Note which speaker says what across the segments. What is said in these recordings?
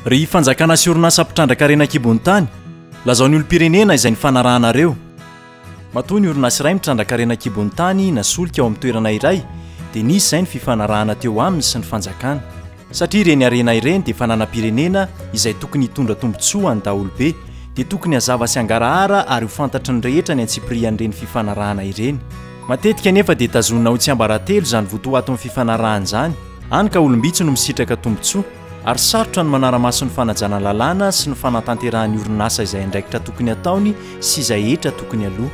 Speaker 1: Ry fanjakana sy orinasa mpitrandrakarena an-kibon'ny tany, lazao ny olom-pirenena izay nifanarahanareo. Matoa ny orinasa iray mitrandrakarena an-kibon'ny tany na solika ao amin'ny toerana iray dia nisy izay ny fifanarahana teo aminy sy ny fanjakana. Satria ireny harena ireny dia fananam-pirenena izay tokony hitondra tombontsoa ho an'ny daholobe dia tokony hazava sy hangarahara ary ho fantatry ny rehetra ny antsipirihan'ireny fifanarahana ireny. Matetika anefa dia tazonina ho tsiambaratelo izany votoaton'ny fifanarahana izany. Hany ka olom-bitsy no misitraka tombontsoa ary sarotra ny manara-maso ny fanajana lalàna sy ny fanatanterahan'ny orinasa izay andraikitra tokony ataony sy izay hetra tokony aloa.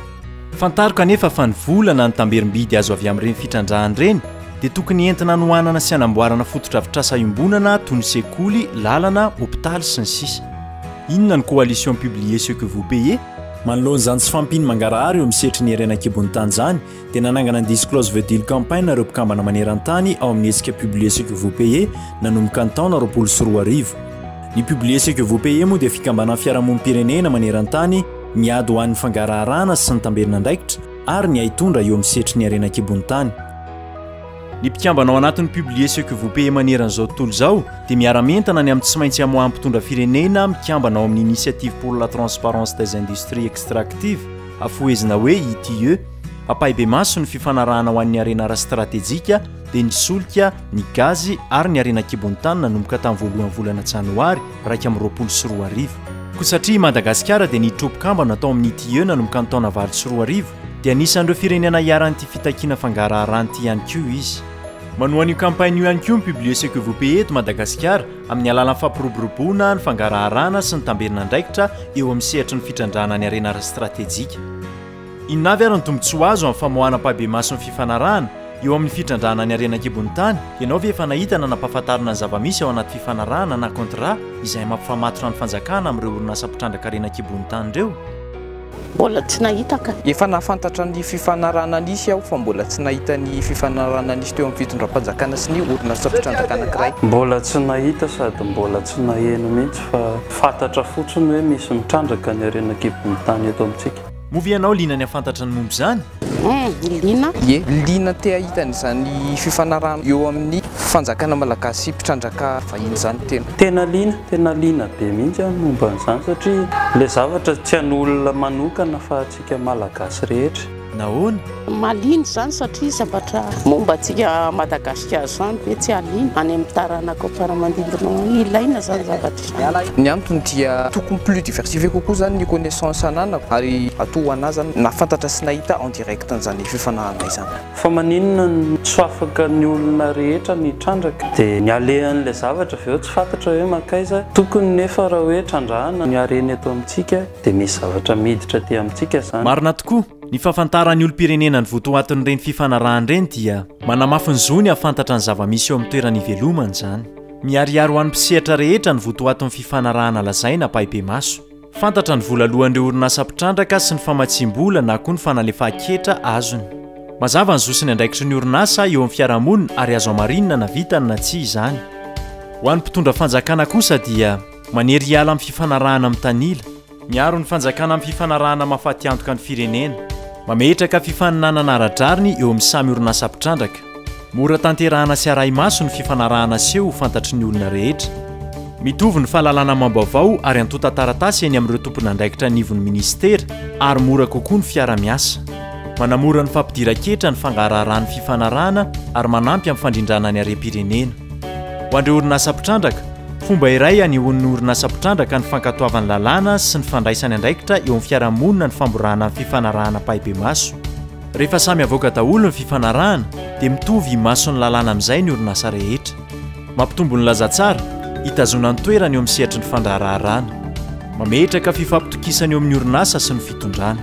Speaker 1: Fantaro kanefa fa ny vola na ny tamberim-bidy azo avy amin'ireny fitrandrahana ireny dia tokony entina anohanana sy anamboarana fotodrafitrasa iombonana toy ny sekoly, lalana, hopitaly, sy ny sisa. Inona ny coalition Publiez ce que vous payez? Manoloana izany tsy fahampian'ny mangarahara eo amin'ny sehatry ny harena an-kibon'ny tany izany, dia nanangana ny Disclose the Deal Campaign ireo mpikambana maneran-tany ao amin'ny hetsika Publier ce que vous payez nanomboka ny taona roapolo sy roa arivo. Ny Publier ce que vous payez moa dia fikambanan'ny fiarahamonim-pirenena maneran-tany miady ho an'ny fangaraharahana sy ny tambelin'andraikitra ary ny haitondra eo amin'ny sehatry ny harena an-kibon'ny tany. Ny mpikambana ao anatin'ny Publier ce que vous payez maneran'izao tontolo izao dia miara-mientana ny amin'ny tsy maintsy hamoahan'ny mpitondra firenena mikambana ao amin'ny Initiative pour la transparence des industries extractives, Afohezina hoe ITIE, ampahibemaso ny fifanarahana ho an'ny harena ara-stratejika, dia ny solika, ny gazy ary ny harena an-kibon'ny tany nanomboka tamin'ny voalohan'ny volana Janoary iraika amby roapolo sy roa arivo. Koa satria i Madagasikara dia niditra ho mpikambana tao amin'ny ITIE nanomboka ny taona valo sy roa arivo, dia anisan'ireo firenena iharan'ity fitakiana fangaraharana ity ihany koa izy. Manohana io kampaina io ihany koa ny Publier ce que vous payez eto Madagasikara, amin'ny alalan'ny fampiroboroboana ny fangaraharana sy ny tamberin'andraikitra eo amin'ny sehatry ny fitrandrahana ny harena ara-stratejika. Inona avy ary ny tombontsoa azo amin'ny famoahana ampahibemaso ny fifanarahana eo amin'ny fitrandrahana ny harena an-kibon'ny tany? Ianao ve efa nahita na nampahafantarina ny zava-misy ao anaty fifanarahana na contrat izay mampifamatotra ny fanjakana amin'ireo orinasa mpitrandraka harena an-kibon'ny tany ireo? Mbola
Speaker 2: tsy nahita ka. Efa nahafantatra ny
Speaker 3: fifanarahana nisy aho fa mbola tsy nahita ny fifanarahana nisy teo amin'ny fitondram-panjakana sy ny orinasa fitrandraka anankiray. Mbola tsy nahita
Speaker 4: sady mbola tsy naheno mihitsy fa fantatra fotsiny hoe misy mitrandraka ny harena an-kibon'ny tany eto amintsika. Moa ve ianao liana ny
Speaker 1: hahafantatra ny momba izany? Hum, liana.
Speaker 2: Ie, liana
Speaker 3: te hahita an'izany fifanarahana eo amin'ny fanjakana malagasy sy mpitrandraka vahiny izany tena. Tena liana, tena liana
Speaker 4: be mihitsy aho momba an'izany satria ilay zavatra tsy an'olona manokana fa antsika malagasy rehetra. Nahoana?
Speaker 1: Mahaliana izany
Speaker 2: satria zavatra momba antsika Madagasikara izany ve tsy hahaliana any amin'ny taranaka ao am-paramandimby noho ny ilaina izany zavatra izany. Ny antony dia
Speaker 3: tokony plus diversifier kokoa zany ny connaissance ananako ary atoa ho anah zany nahafantatra sy nahita en direct an'izany fifanahanay zany. Fa maninona no
Speaker 4: tsy fafaka ny olona rehetra ny hitrandraka de ny alehan'ilay zavatra avy eo tsy fatatra hoe mankaiza? Tokony nefa raha hoe trandrahana ny harena eto amintsika de misy zavatra miditra aty amintsika zany. Marina tokoa, ny
Speaker 1: fahafantaran'ny olom-pirenena ny votoatin'ireny fifanarahana ireny dia manamafy ny zony hahafantatra ny zava-misy eo amin'ny toerana ivelomany izany. Miharihary ho an'ny mpisehatra rehetra ny votoatin'ny fifanarahana lazaina ampahibemaso. Fantatra ny vola aloan'ireo orinasa mpitrandraka sy ny famatsiam-bola na koa ny fanalefahan-ketra azony. Mazava ny zo sy ny andraikitry ny orinasa eo amin'ny fiarahamonina ary azo hamarinina na vitany na tsia izany. Ho an'ny mpitondra fanjakana kosa dia manery hiala amin'ny fifanarahana mitanila. Miaro ny fanjakana amin'ny fifanarahana mahafatiantoka ny firenena. Mametraka fifaninanana ara-drariny eo amin'ny samy orinasa mpitrandraka. Mora tanterahana sy arahi-maso ny fifanarahana aseho ho fantatry ny olona rehetra. Mitovy ny fahalalana amam-baovao ary antontan-taratasy eny amin'ireo tomponandraikitra anivon'ny minisitera ary mora kokoa ny fiara-miasa. Manamora ny fampidiran-ketra ny fangaraharahan'ny fifanarahana ary manampy amin'ny fandrindrana ny harem-pirenena. Ho an'ireo orinasa mpitrandraka, fomba iray hanehoan'ny orinasa mpitrandraka ny fankatoavany lalàna sy ny fandraisany andraikitra eo amin'ny fiarahamonina ny famborahana ny fifanarahana ampahibemaso. Rehefa samy avoaka daholo ny fifanarahana dia mitovy imason'ny lalàna amin'izay ny orinasa rehetra. Mampitombo ny lazatsara, hitazonany toerana eo amin'ny sehatry ny fandraharaharaana. Mametraka fifampitokisana eo amin'ny orinasa sy ny fitondrana.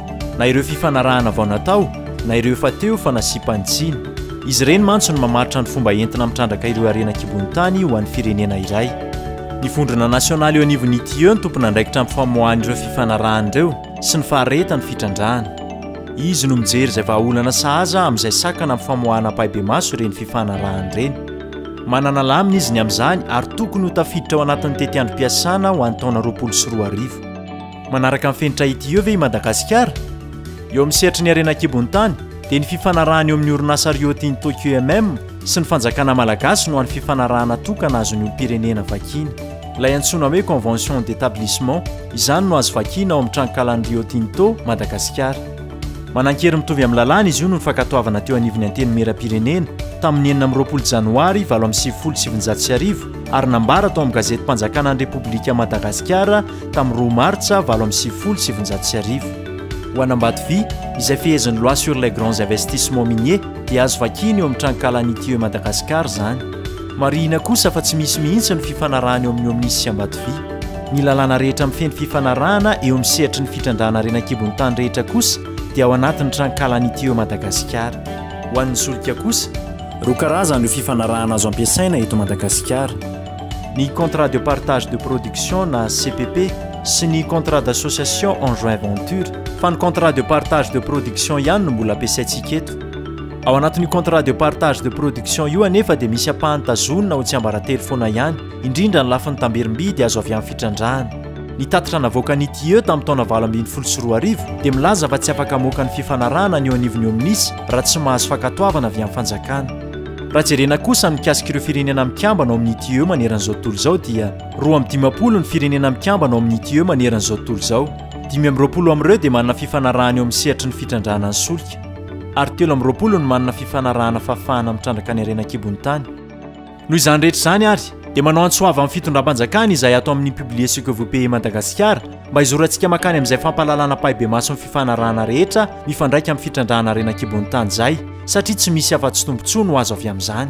Speaker 1: na ireo fifanarahana vao natao na ireo efa teo fa nasiam-panj tsiny. Izy ireny mantsy no mamaritra ny fomba entina mitrandraka ireo harena an-kibon'ny tany ho an'ny firenena iray. Ny vondrona nasionaly eo anivon'ny ITIE no tompon'andraikitra amin'ny famoahan'ireo fifanarahana ireo sy ny faharehetan'ny fitrandrahana. Izy no mijery izay vahaolana sahaza amin'izay sakana amin'ny famoahana ampahibemaso ireny fifanarahana ireny. Manana lamina izy ny amin'izany ary tokony ho tafiditra ao anatin'ny tetiandrom-piasana ho an'ny taona roapolo sy roa arivo. Manaraka ny fenitra ity eo ve i Madagasikara? Eo amin'ny sehatry ny harena an-kibon'ny tany dia ny fifanarahana eo amin'ny orinasa Rio Tinto QMM sy ny fanjakana malagasy no hany fifanarahana tokana azon'ny olom-pirenena vakiana. Ilay antsoina hoe Convention d'établissement, izany no azo vakiana ao amin'ny tranonkalan'ny Rio Tinto, Madagasikara. Manan-kery mitovy amin'ny lalàna izy io noho ny fankatoavana teo anivon'ny Antenimierampirenena tamin'ny enina amby roapolo Janoary valo amby sivifolo sy sivinjato sy arivo ary nambara tao amin'ny gazetim-panjakana ny Repoblikan'i Madagasikara tamin'ny roa martsa valo amby sivifolo sy sivinjato sy arivo. Ho an'Ambato Vy, izay fehezin'ny Loi sur les grands investissements miniers dia azo vakina eo amin'ny tranonkalan'ny TE Madagascar izany. Marihina kosa fa tsy misy mihitsy ny fifanarahana eo amin'ny OMNIS sy Ambato Vy. Ny lalàna rehetra mifehy ny fifanarahana eo amin'ny sehatry ny fitrandrahana harena an-kibon'ny tany rehetra kosa dia ao anatin'ny tranonkalan'ny TE Madagascar. Ho an'ny solika kosa, roa karazana io fifanarahana azo ampiasaina eto Madagasikara. ny contrat de partage de production na cpp sy ny contrat d'association en joint venture fa ny contrat de partage de production ihany no mbola ampiasaintsika eto ao anatin'io contrat de partage de production io anefa dia misy ampahany tazonina ho tsiambaratelo foana ihany indrindra ny lafiny tamberim-bidy azo avy amin'ny fitrandrahana ny tatitra navoakan'ny TIE tamin'ny taona valo ambin'ny folo sy roa arivo dia milaza fa tsy afaka hamoaka ny fifanarahana ny eo anivon'ny OMNIS raha tsy mahazo fankatoavana avy amin'ny fanjakana. Raha jerena kosa ny mikasika ireo firenena mikambana ao amin'ny TUE maneran'izao tontolo izao dia roa amby dimampolo ny firenena mikambana ao amin'ny TUE maneran'izao tontolo izao. Dimy amby roapolo amin'ireo dia manana fifanarahana eo amin'ny sehatry ny fitrandrahana ny solika, ary telo amby roapolo no manana fifanarahana fahafahana mitrandraka ny harena an-kibon'ny tany. Noho izany rehetra izany ary, dia manao antso avo amin'ny fitondram-panjakana izay ato amin'ny Publier ce que vous payez Madagasikara, mba hizorantsika makany amin'izay fampahalalana ampahibemaso ny fifanarahana rehetra mifandraika amin'ny fitrandrahana harena an-kibon'ny tany izay, satria tsy misy afa-tsy tombontsoa no azo avy amin'izany.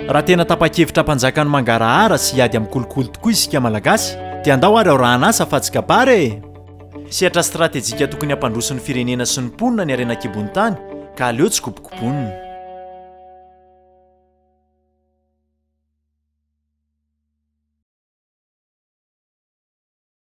Speaker 1: Raha tena tapa-kevitra hampanjaka ny mangarahara sy hiady amin'ny kolikoly tokoa isika Malagasy, dia andao ary aorahana asa fa tsy kabary e! Sehatra stratejika tokony hampandroso'ny firenena sy ny mponina ny harena an-kibon'ny tany, ka aleo tsy kobokobonina.